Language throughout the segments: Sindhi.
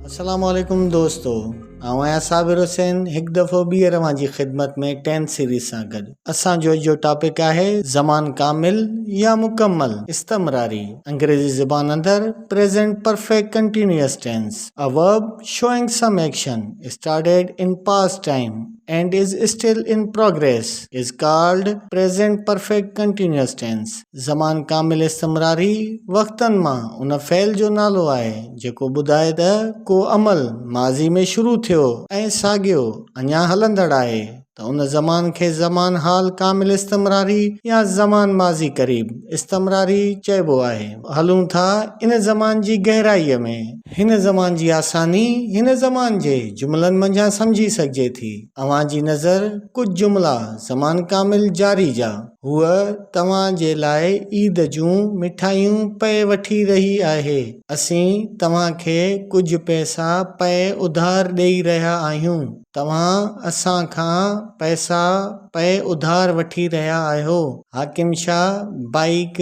السلام عليڪم دوستو آئون آهيان صابر حسين هڪ دفعو ٻيهر اوهان جي خدمت ۾ ٽين سيريز سان گڏ اسان جو جو ٽاپڪ آهي زمان ڪامل يا مڪمل استمراري انگريزي زبان اندر present perfect continuous tense a verb showing some action started in past time and is still in progress is called Present Perfect Continuous Tense زمان ڪامل استمراري وقتن مان ان فعل جو نالو آهي جيڪو ٻڌائي ته ڪو عمل ماضي ۾ شروع ٿيو ۽ ساڳيو اڃا هلندڙ آهي ته ان زمان کي زمان حال ڪامل استمراري يا زمان ماضي قريب استمراري چئبو آهي هلون ٿا ان زمان جي گهرائيء ۾. هن زمان جي آساني هن زمان جي جملن منجهان سمجهي سگهجي ٿي. اوهان جي نظر ڪجهه جملا زمان ڪامل جاري جا. هوء توهان جي لاء عيد جون مٺايون پئي وٺي رهي آهي. اسين توهان کي ڪجهه پئسا پئي اڌار ڏيئي رهيا آهيون. توهان اسان کان پئسا پئي اڌار وٺي رهيا آهيو. حاڪم شاهه بائيڪ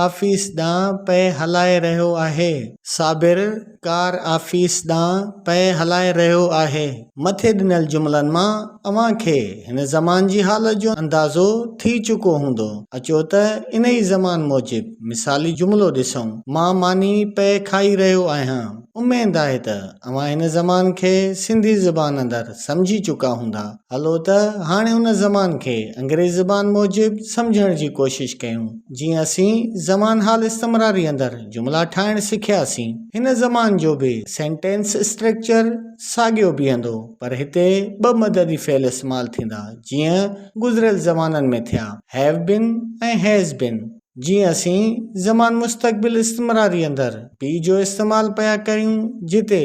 آفيس ڏانهن پئي هلائي رهيو آهي. صابر ڪار آفيس ڏانهن پئي هلائي رهيو آهي. مٿي ڏنل جملن مان اوهان کي هن زمان جي حالت جو اندازو ٿي چڪو هوندو. اچو ته انهي زمان موجب مثالي جملو ڏسون. مان ماني پئي کائي رهيو آهيان. اميد آهي ته اوهان هن زمان کي سنڌي زبان اندر سمجهي چڪا هوندا. هلو ته هاڻي ان زمان کي انگريز زبان موجب سمجهڻ جي ڪوشش ڪيون. جيئن اسين زمان حال استمراري اندر جملا ٺاهڻ سکياسين. هن زمان جو به سينٽينس اسٽريڪچر ساڳيو بيهندو پر هتي ٻه مددي فعل استعمال ٿيندا جيئن گذريل زمانن ۾ ٿيا، Have been ۽ Has been. جيئن اسين زمان مستقبل استمراري اندر بي جو استعمال پيا ڪريون جتي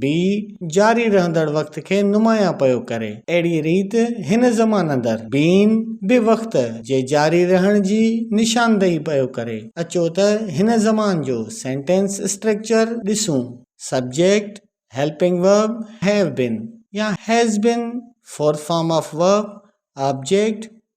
بي جاري رهندڙ وقت کي نمايان پيو ڪري اهڙي ريت هن زمان اندر بين به وقت جي جاري رهڻ جي نشاندهي پيو ڪري اچو ته هن زمان جو سينٽينس اسٽريڪچر ڏسون subject helping verb have been يا has been fourth form of verb object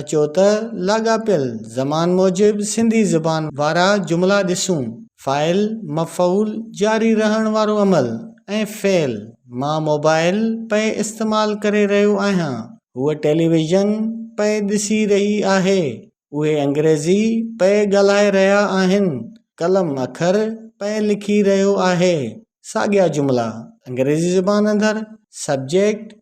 اچو ته لاڳاپيل زمان موجب سنڌي زبان وارا جملا ڏسون. فاعل، مفعول، جاري رهڻ وارو عمل ۽ فعل، مان موبائل پئي استعمال ڪري رهيو آهيان، هوء ٽيليويزن پئي ڏسي رهي آهي، اهي انگريزي پئي ڳالهائي رهيا آهن، قلم اکر پئي لکي رهيو آهي، ساڳيا جملا انگريزي زبان اندر سبجيڪٽ،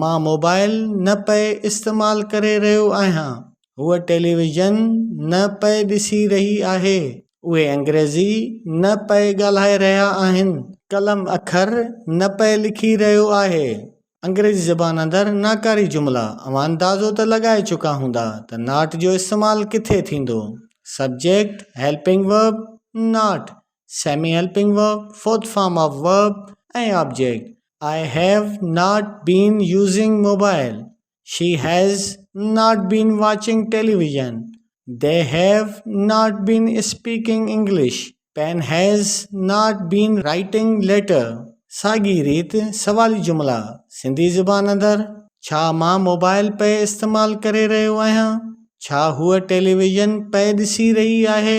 مان موبائل نه پئي استعمال ڪري رهيو آهيان هوء ٽيليويزن نه پئي ڏسي رهي آهي اهي انگريزي نه پئي ڳالهائي رهيا آهن قلم اکر نه پئي لکي رهيو آهي انگريزي زبان اندر ناڪاري جملا اوهان اندازو ته لڳائي چڪا هوندا ته ناٽ جو استعمال ڪٿي ٿيندو subject helping verb not semi helping verb, fourth form of verb ۽ object, I have not been using mobile, she has not been watching television, they have not been speaking English, pen has not been writing letter. ساڳي ريت سوالي جملا سنڌي زبان اندر، ڇا مان موبائل پئي استعمال ڪري رهيو آهيان؟ ڇا هوء ٽيليويزن پئي ڏسي رهي آهي؟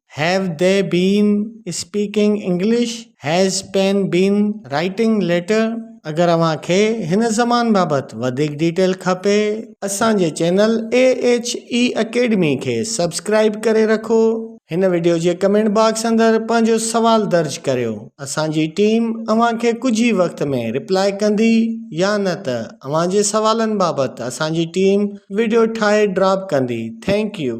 Have they been speaking English؟ Has Pen been writing letter؟ اگر اوهان کي هن زبان بابت وڌيڪ ڊيٽيل کپي اسان جي channel A H A academy کي سبسڪرائيب ڪري رکو هن وڊيو جي ڪمينٽ باڪس اندر پنهنجو سوال درج ڪريو اسان جي ٽيم اوهان کي ڪجهه ئي وقت ۾ ريپلاء ڪندي يا نه ته اوهان جي سوالن بابت اسان جي ٽيم وڊيو ٺاهي ڊراپ ڪندي ٿينڪ يو.